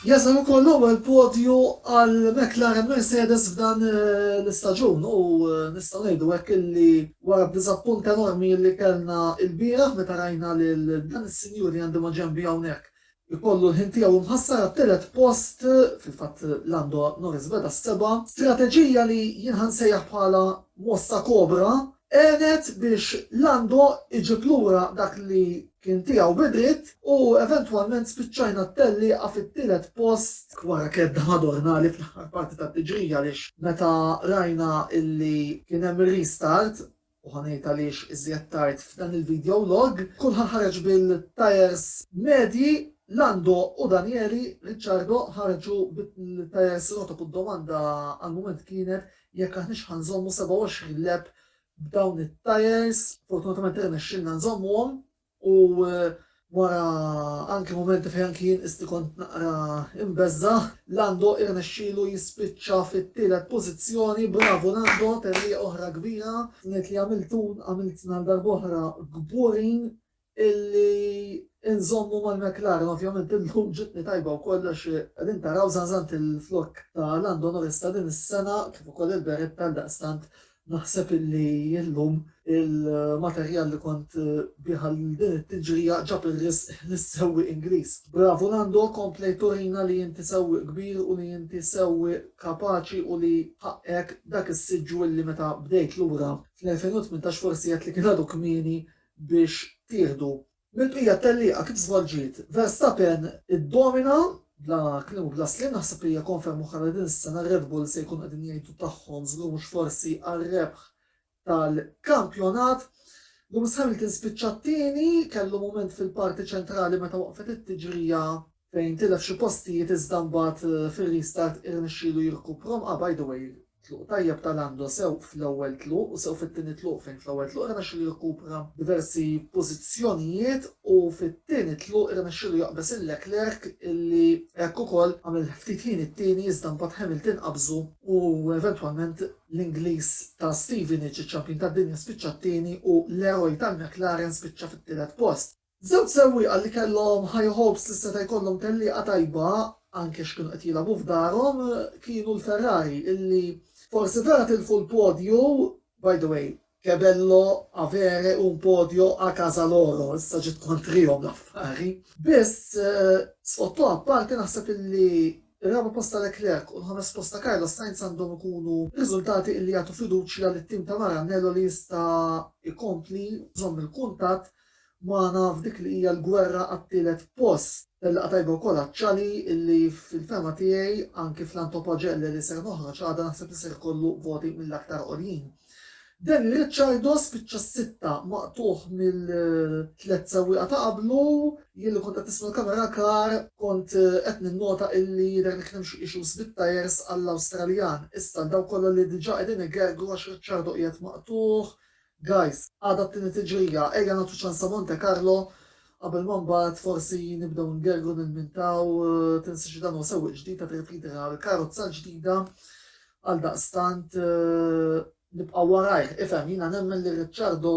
Jasal ukoll l-ewwel podju għal McLaren Mercedes f'dan l-istaġun u nistgħu ngħidu hekk illi wara d-diżappunt enormi illi kellna ilbieraħ meta rajna lil dan is-sinjur li għandi maġenbi hawnhekk ikollu l-ħin tiegħu mħassar għat-tielet post, fil-fatt Lando Norris beda s-seba', strateġija li jien ħa nsejjaħ bħala mossa kobra Għenet biex Lando iġib lura dak li kien tiegħu bi dritt u eventwalment spiċċajna t-tellieqa fit-tielet post, wara kedda Madornali fl-aħħar parti tat-tiġrija għaliex meta rajna illi kien hemm ir-restart, u ħa ngħid għaliex iżjed tard f'dan il-video log, kulħadd ħareġ bil-tyres medji, Lando u Daniele Ricciardo ħarġu bil-tyres rotob u d-domanda għall-mument kienet jekk aħniex ħa nżommu 27 lap b'dawn it-tyres, fortunatament irnexxielna nżommuhom u wara anki mumenti fejn anki jien qisti kont naqra imbeżża', Lando irnexxielu jispiċċa fit-tielet pożizzjoni, bravu Lando, therrieqa oħra kbira. Ngħid li għamiltun għamiltna għal darb'oħra kburin illi nżommu mal-McLaren ovvjament illum ġietni tajba wkoll għax qegħdin taraw żanżant il-flokk ta' Lando Norris ta' din is-sena kif ukoll il-beretta għaldaqstant naħseb illi illum il-materjal li kont bih għal din it-tiġrija ġab ir-risq lis-sewwieq Ingliż. Bravu Lando komplejt turina li inti sewwieq kbir u li inti sewwieq kapaċi u li ħaqqek dak is-siġġu illi meta bdejt lura fl-2018 forsi għedt li kien għadu kmieni biex tieħdu mill-bqija t-tellieqa kif żvolġiet. Verstappen iddomina bla kliem u bla sliem naħseb li hija konferma oħra li din is-sena r-Red Bull se jkunu qegħdin jgħidu tagħhom żgur mhux forsi għar-rebħ tal-kampjonat. Lewis Hamilton spiċċa t-tieni, kellu mument fil-parti ċentrali meta waqfet it-tiġrija fejn tilef xi postijiet iżda mbagħad fir-restart irnexxielu jirkuprhom, ah by the way tluq tajjeb ta' Lando sew fl-ewwel tluq u sew fit-tieni tluq fejn fl-ewwel tluq irnexxielu jirkupra diversi pożizzjonijiet u fit-tieni tluq irnexxielu jaqbeż il Leclerc illi hekk ukoll għamel ftit ħin it-tieni iżda mbagħad Hamilton qabżu u eventwalment l-Ingliż ta' Stevenage iċ-Champion tad-Dinja spiċċa t-tieni u Leroy tal-McLaren spiċċa fit-tielet post. Żewġ sewwieqa li kellhom high hopes li seta' jkollhom tellieqa tajba anke x'kienu qed jilagħbu f'darhom kienu l-Ferrari illi forsi vera tilfu l-podju, by the way, Kebello avere un podio a casa loro issa ġiet kontrihom l-affari. Biss, sfottu apparti naħseb illi r-raba' post ta' Leclerc u l-ħames post ta' Carlos Sainz għandhom ikunu riżultati illi jagħtu fiduċja lit-tim ta' Maranello li jista' jkompli jżomm il-kuntatt magħna f'dik li hija l-gwerra għat-tielet post. Laqgħa tajba wkoll għaċ-Ciali illi fil-fehma tiegħi anki fl-Antopagelle li ser noħroġ għada naħseb li ser ikollu voti mill-aktar għoljin. Danny Ricciardo spiċċa s-sitta maqtugħ mill-tliet sewwieqa ta' qablu. Jien li kont qed nisma' l-camera car kont qed ninnota illi jidher li kien hemm xi issues bit-tyres għall-Awstraljan. Issa għal dawk kollha li diġà qegħdin igergru għax Ricciardo qiegħed maqtugħ, Guys, għada t-tieni tiġrija, ejja nagħtu ċans a Monte Carlo qabel ma mbagħad forsi nibdew ngergru nilmintaw, tinsiex dan huwa sewwieq ġdid qed irrifidi għal karozza ġdida għaldaqstant nibqgħu warajh. Ifhem, jiena nemmen li Ricciardo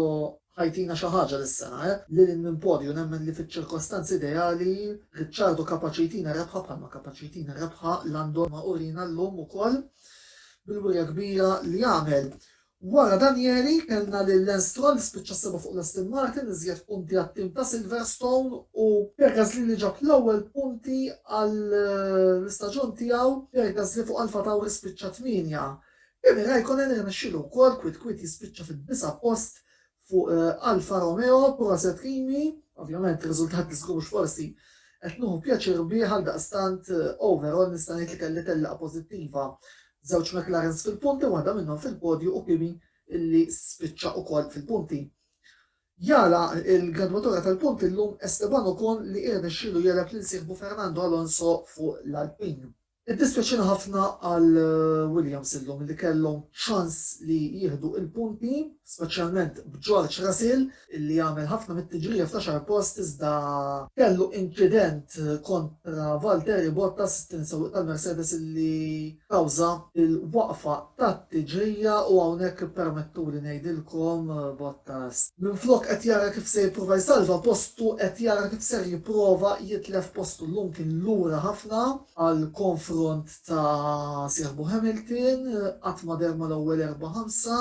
ħa jtina xi ħaġa dis-sena, eh. Lil hinn minn podju nemmen li fiċ-ċirkostanzi ideali Ricciardo kapaċi jtina rebħa bħalma kapaċi jtina rebħa Lando ma urina llum ukoll bil-wirja kbira li għamel. Wara Danieri, kellna lil Lance Stroll li spiċċa s-seba' fuq l-Aston Martin, iżjed punti għat-tim ta' Silverstone u. Pierre Gasly li ġab l-ewwel punti għall-istaġun tiegħu, Pierre Gasly fuq AlphaTauri spiċċa tmienja. Kimi Raikkonen irnexxielu wkoll kwiet kwiet jispiċċa fid-disa' post fuq Alfa Romeo proset Kimi, ovvjament ir-riżultat li żgur mhux forsi qed nieħu pjaċir bih għaldaqstant overall nista' ngħid li kelli tellieqa pożittiva b'żewġ McLarens fil-punti waħda minnhom fil-podju u Kimi illi spiċċa ukoll fil-punti. Jagħlaq il-gradwatura tal-punti llum Esteban Ocon li irnexxielu jegħleb lil sieħbu Fernando Alonso fuq l-Alpine. Iddispjaċina ħafna għal Williams illum li kellhom ċans li jieħdu il-punti, speċjalment b'George Russell illi għamel ħafna mit-tiġrija fl-għaxar post iżda kellu inċident kontra Valtteri Bottas, it-tieni sewwieq tal-Mercedes illi kawża l-waqfa. tat-tiġrija u hawnhekk ippermettuli ngħidilkom, Bottas, minflok qed jara kif se jipprova jsalva postu qed jara kif ser jipprova jitlef postu llum kien lura ħafna għal konfront ta' sieħbu Hamilton, qatt ma deher mal-ewwel erbgħa ħamsa,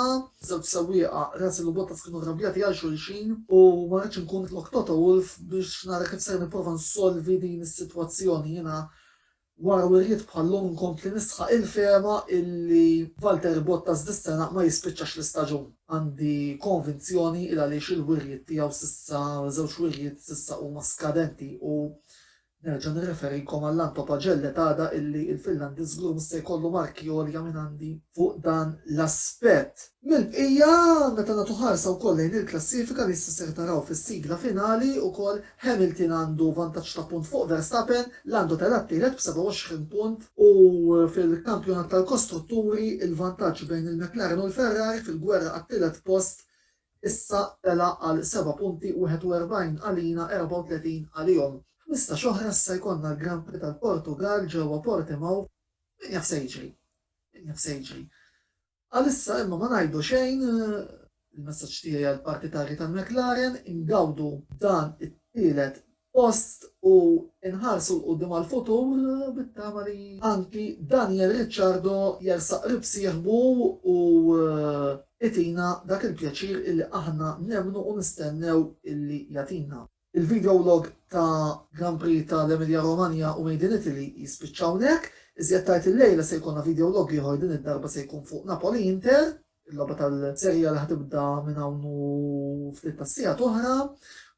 żewġ sewwieqa Russell u Bottas kienu rrabjati għal xulxin u ma ridtx inkun flok Toto Wolff biex nara kif ser nipprova nsolvi din is-sitwazzjoni jiena Wara wirjiet bħal Long nkompli nisħaq il-fehma illi Valtteri Bottas dis-sena ma jispiċċax l-istaġun. Għandi konvinzjoni il għaliex il-wirjiet tiegħu s'issa, żewġ wirjiet s'issa huma skadenti u nerġa' nirreferikom għall-Anto Pagelle t'għada illi il-Finlandiż żgur mhux se jkollu marki għolja minn għandi fuq dan l-aspett. Mill-bqija, meta nagħtu ħarsa wkoll lejn il-klassifika li issa ser taraw fis-sigla finali ukoll, Hamilton għandu vantaġġ ta' punt fuq Verstappen, Lando tela' t-tielet b'27 punt, u fil-Kampjonat tal-Kostrutturi il-vantaġġ bejn il-McLaren u l-Ferrari fil-gwerra għat-tielet post issa tela' għal seba' punti, 41 għalina, 34 għalihom. F'ħmistax oħra issa jkollna l-Grand Prix tal-Portugall ġewwa Portimao, min jaf se jiġri? Min jaf se jiġri? Għalissa imma ma ngħidu xejn, il-messaġġ tiegħi għall-partitarji ta' McLaren, ingawdu dan it-tielet post u nħarsu l quddiem għall-futur bit-tama li anki Daniel Ricciardo jersaq qrib sieħbu u itina dak il-pjaċir illi aħna nemmnu u nistennew illi jagħtina. Il-video log ta' Grand Prix ta' l-Emilia Romagna u Made in Italy jispiċċa hawnhekk. Iżjed tard illejla se jkollna video log ieħor din id-darba se jkun fuq Napoli Inter, il-logħba tal-Serie A li ħa tibda minn hawn u ftit tas-sigħat oħra.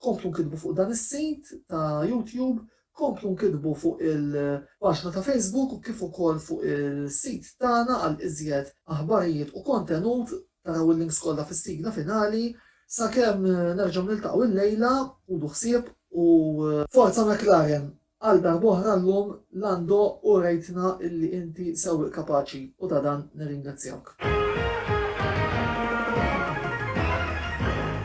Komplu nkittbu fuq dan is-sit ta' YouTube Komplu nkitbu fuq il-paġna ta' Facebook kif ukoll fuq is-sit tagħna għal iżjed aħbarijiet u kontenut, taraw il-links kollha fis-sigla finali. Sakemm nerġgħu niltaqgħu illejla, ħudu ħsieb u. Forza McLaren! Għal darb'oħra llum, Lando, urejtna illi inti sewwieq kapaċi u ta' dan nirringrazzjawk.